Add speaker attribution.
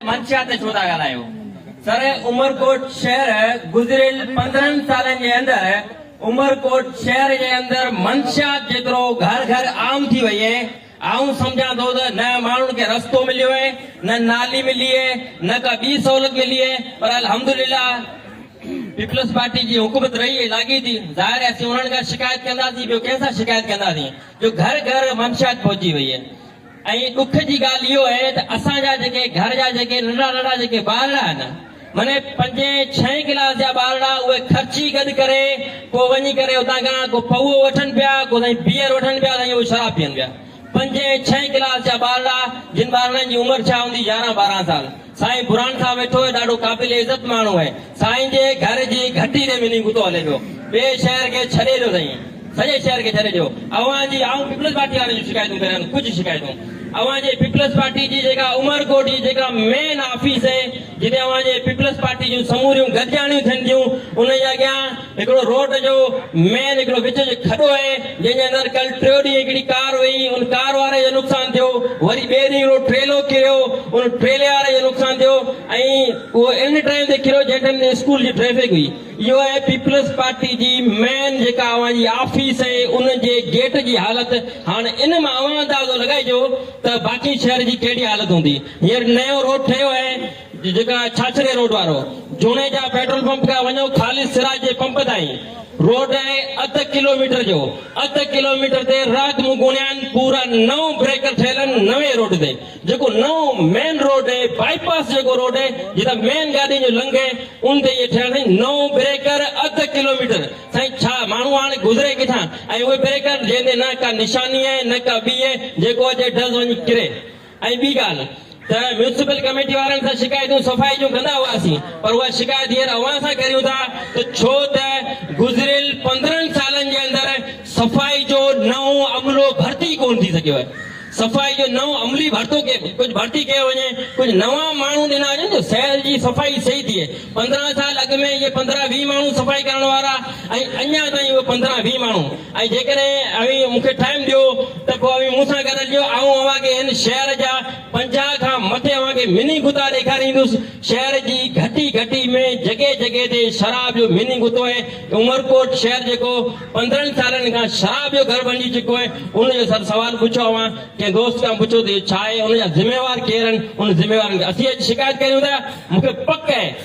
Speaker 1: منشيات تي ڇو ٿا ڳالهايو؟ سر عمرڪوٽ شهر گذريل پندرهن سالن جي اندر عمرڪوٽ شهر جي اندر منشيات جيترو گهر گهر عام ٿي وئي اهي آئون سمجهان ٿو ته نه ماڻهن کي رستو مليو اهي نه نالي ملي اهي نه ڪا ٻي سهولت ملي اهي پر الحمدلله پيپلز پارٽي جي حڪومت رهي اهي لاڳي ٿي ظاهر اسين انهن کان شڪايت ڪنداسين ٻيو ڪنهن سان شڪايت ڪنداسين جو گهر گهر منشيات پهچي وئي اهي ۽ ڏک جي ڳالهه اهو اهي ته اسان جا جيڪي گهر جا جيڪي ننڍڙا ننڍڙا جيڪي ٻارڙا آهن مني پنجين ڇهين ڪلاس جا ٻارڙا اهي خرچي گڏ ڪري ڪو وڃي ڪري اتان کان ڪو پوئو وٺن پيا ڪو سائين بيئر وٺن پيا سائين اهو شراب پيئن پيا پنجين ڇهين ڪلاس جا ٻارڙا جن ٻارڙن جي عمر ڇا هوندي يارهن ٻارهن سال سائين برھان خان ويٺو ھي ڏاڍو قابل عزت ماڻھو ھي سائين جي گھر جي گھٽي تي منھنجي ڪتو ھلي پيو ٻئي شھر کي ڇڏي ڏيو سائين سڄي شھر کي ڇڏي ڏيو اوھان جي آئون پيپلز پارٽي وارن جون شڪايتون ڪريان ٿو ڪجھ شڪايتون اوھان جي پيپلز پارٽي جي جيڪا عمرڪوٽ جي جيڪا مين آفيس ھي جتي اوھان جي پيپلز پارٽي جون سموريون گڏجاڻيون ٿين ٿيون ان جي اڳيان هڪڙو روڊ جو مين هڪڙو وچ جو کڏو آهي جنهن جي اندر ڪل ٽيو ڏينهن هڪڙي ڪار وئي ان ڪار واري جو نقصان ٿيو وري ٻئي ڏينهن هڪڙو ٽريلو ڪريو ان ٽريلي واري جو نقصان ٿيو ۽ اهو ان ٽائيم تي ڪريو جنهن ٽائيم تي اسڪول جي ٽريفڪ هئي اهو آهي پيپلز پارٽي جي مين جيڪا اوهان جي آفيس ۽ ان جي گيٽ جي حالت هاڻ ان مان اوهان اندازو لڳائجو ته باقي شهر جي ڪهڙي حالت هوندي هينئر نيو روڊ ٺهيو آهي جيڪا ڇاڇري روڊ وارو جوڻيجا پيٽرول پمپ کان وڃو خالص سراج جي پمپ تائين روڊ آهي اڌ ڪلو ميٽر جو اڌ ڪلو ميٽر تي رات مون گڻيان پورا نو بريڪر ٺهيل آهن نوين روڊ تي جيڪو نئون مين روڊ آهي بائي پاس جيڪو روڊ آهي جتان مين گاڏين جو لنگهه ان تي اهي ٺهيل سائين نو بريڪر اڌ ڪلو ميٽر سائين ڇا ماڻهو هاڻي گذري ڪٿان ۽ اهي بريڪر جنهن تي نه ڪا نشاني آهي نه ڪا ٻي آهي جيڪو اچي ڊز وڃي ڪري ۽ ٻي ڳالهه ته ميونسپل ڪميٽي وارن سان شڪايتون صفائي جون ڪندا هئاسين پر اها شڪايت هينئر اوهان سان ڪريون ٿا ته ڇو ته گذريل پندرهن سالن جي اندر صفائي جو نئون عملو ڀرتي ڪونه ٿي سگهيو آهي صفائي جو نئون عملي ڀرتو ڪجهه ڀرتي ڪيو وڃي ڪجهه نوان ماڻهو ڏنا وڃن جو شهر جي صفائي صحيح ٿئي پندرهن سال اڳ ۾ اهي پندرهن ويهه ماڻهو صفائي ڪرڻ وارا ۽ اڃا تائين اهي پندرهن ويهه ماڻهو ۽ جيڪڏهن اوهين مون کي ٽائيم ڏيو ته پوء اوهين مون سان گڏ هلجو، آئون اوهان کي هن شهر جا پنجاهه کان مٿي اوهان کي مني غطا ڏيکاريندس. شهر جي گهٽي گهٽي ۾ جڳهه جڳهه تي شراب جو مني غطو آهي. عمرڪوٽ شهر جيڪو پندرهن سالن کان شراب جو گهر بڻجي چڪو آهي، ان جو سر سوال پڇو اوهان ڪنهن دوست کان پڇو ته اهو ڇا آهي، ان جا ذميوار ڪير آهن، انهن ذميوارن کي اسين اڄ شڪايت ڪريون ٿا، مون کي پڪ آهي.